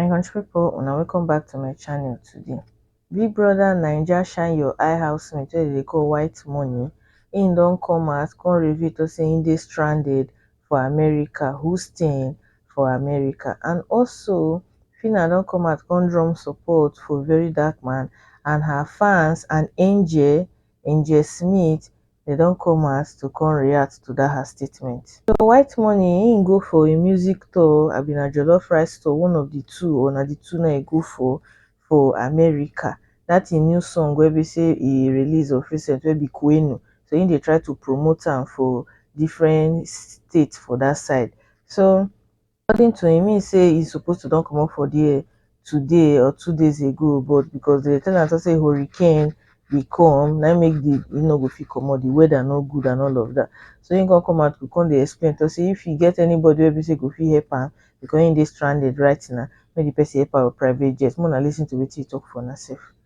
my country people una welcome back to my channel today big brother naija shine your eye housemate wey dey call white money im don come out come reveal to say im dey stranded for america who staying for america and also Phyna don come out come drum support for very dark man and her fans and angel angel smith dem don come house to come react to that her statement. So white money im go for im music tour abi na jollof rice tour one of the two or na the two na e go for for America that im new song wey be say e release of recent wey be Kwenu so im dey try to promote am for different state for that side so according to im mean say e suppose to don comot for dia today or two days ago but becos dem tell am say say hurricane dey come na im make di e no go fit comot di weather no good and all of dat so im come come out to come dey explain tok say if e get anybody wey be say go fit help am becos im dey stranded right now make di person help am wit private jet make una listen to wetin e tok for una sef.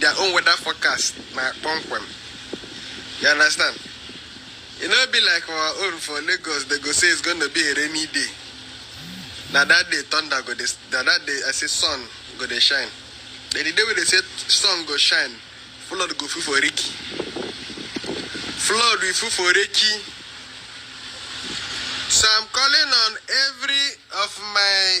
their own weather forecast na kpọmkwem. You understand? E no be like our own for Lagos, they go say it's gonna be a rainy day. Na that day thunder go dey, na that day I say sun go dey shine. Then the day wey they say sun go shine, flood go full for Riki. Flood will full for Riki. So I'm calling on every of my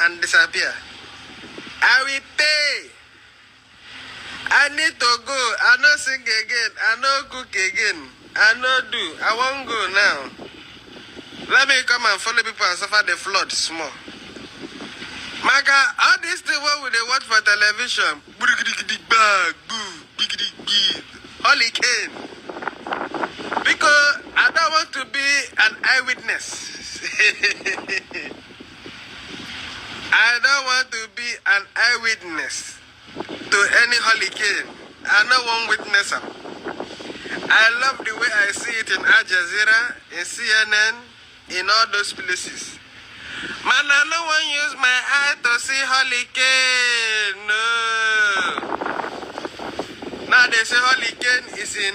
and disappear. I will pay. I need to go. I no sing again. I no cook again. I no do. I won't go now. Let me come and follow people and suffer the flood small. Maka, all these things what we dey watch for television, big bag, boo, big big, hurricane. Because I don't want to be an eyewitness. I don't want to be an eyewitness to any hurricane. I no wan witness am. I love the way I see it in Al Jazeera, in CNN, in all those places. Man, I no wan use my eye to see hurricane. No. Now they say hurricane is in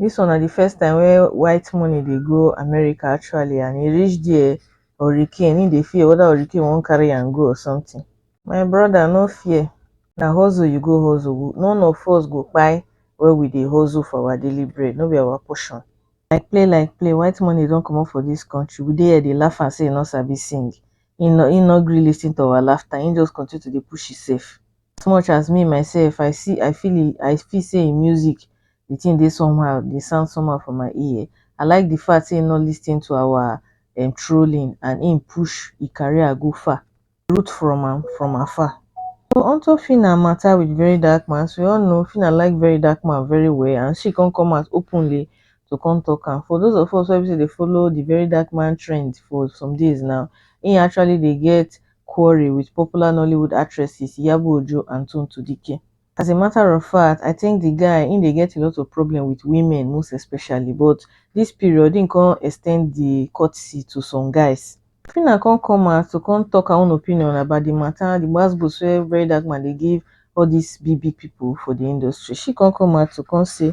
dis one na the first time wey white money dey go america actually and e reach there hurricane e dey fear whether hurricane wan carry am go or something my brother no fear na hustle you go hustle none of us go kpai wey we dey hustle for our daily bread no be our portion like play like play white money don comot for dis country we dey here dey laugh am say e no sabi sing e no e no gree listen to our laughter e just continue to dey push himself as much as me myself i see i feel i feel say him music the thing dey somehow dey sound somehow for my ear I like the fact say he no listen to our um trolling and him push him career go far. root from am from afar. So onto Phyna matter with Verydarkman as we all know Phyna like Verydarkman very well and she come come out openly to come talk am for those of us wey be say we dey follow the Verydarkman trend for some days now he actually dey get quarrel with popular Nollywood actresses Iyabo Ojo and Tonto Dikeh as a matter of fact i think the guy him dey get a lot of problem with women most especially but this period him come ex ten d the courtesy to some guys. Phyna come come out to come talk her own opinion about the matter the gbas gbos wey very dark man dey give all this big big people for the industry she come come out to come say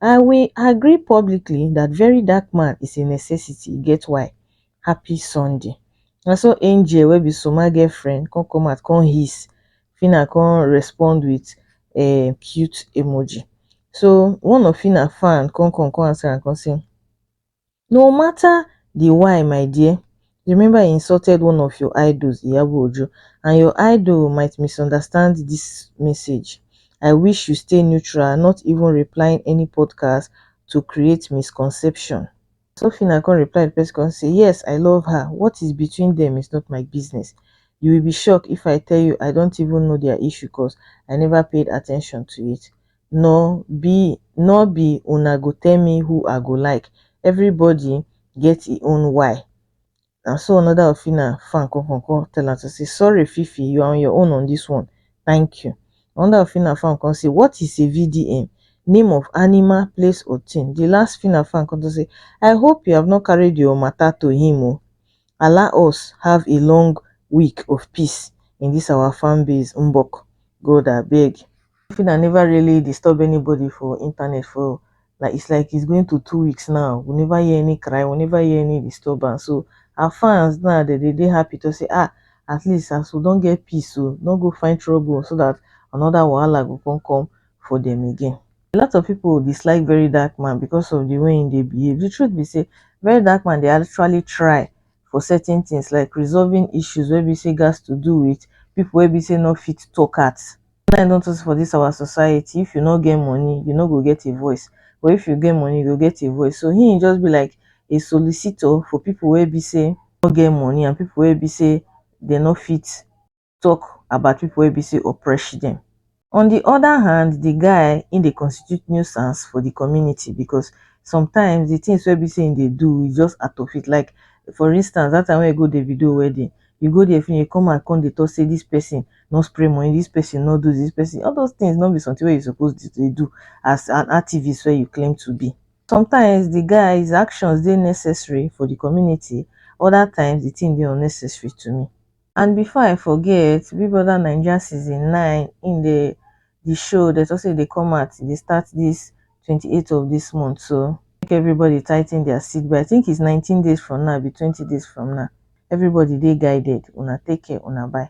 i will agree publicly that very dark man is a necessity e get why happy sunday na so angel wey be soma girl friend come come out come hiss phyna come respond with um cute emoji so one of phyna fan come come come answer am come say no matter the why my dear remember he insulted one of your idols iyabo ojo and your idol might misunderstand this message i wish you stay neutral not even replying any podcast to create misconception Sofina come reply the person come say, Yes, I love her. What is between them is not my business. You will be shocked if I tell you I don't even know their issue cause I never paid attention to it. Nor be nor be una go tell me who I go like. Everybody get e own why. na so another of Fina fan come come come tell am to say sorry Fifi you are on your own on this one thank you another of Fina fan come say what is a VDM name of animal place or thing the last Fina fan come to say I hope you have not carried your matter to him o allow us have a long week of peace in this our fan base mbok God abeg. Even I never really disturb anybody for internet for like it's like it's going to two weeks now. We never hear any cry, we never hear any disturbance. So our fans now they they, they happy to say ah at least as we don't get peace, so don't go find trouble so that another wahala go come come for them again. A lot of people dislike Very Dark Man because of the way they behave. The truth be say Very Dark Man they actually try for certain things like resolving issues where we say gas to do with people where we say not fit talk at Wetin I don notice for dis our society, if you no get money, you no go get a voice, but if you get money, you go get a voice. So him just be like a solicitor for people wey be say no get money and people wey be say dem no fit talk about people wey be say oppress dem. On the other hand, the guy him dey constitute nuisance for the community because sometimes the things wey be say him dey do is just out of it. Like for instance, that time wey he go Davido wedding, you go there finish you come and come dey talk say this person no spray money this person no do this person all those things no be something wey you suppose dey do as an activist wey you claim to be sometimes the guy's actions dey necessary for the community other times the thing dey unnecessary to me. And before I forget, Big Brother Naija season nine im dey the show they talk say e dey come out e dey start this 28th of this month so make everybody tighten their seat but i think it's 19 days from now be 20 days from now everybody dey guided una take care una bye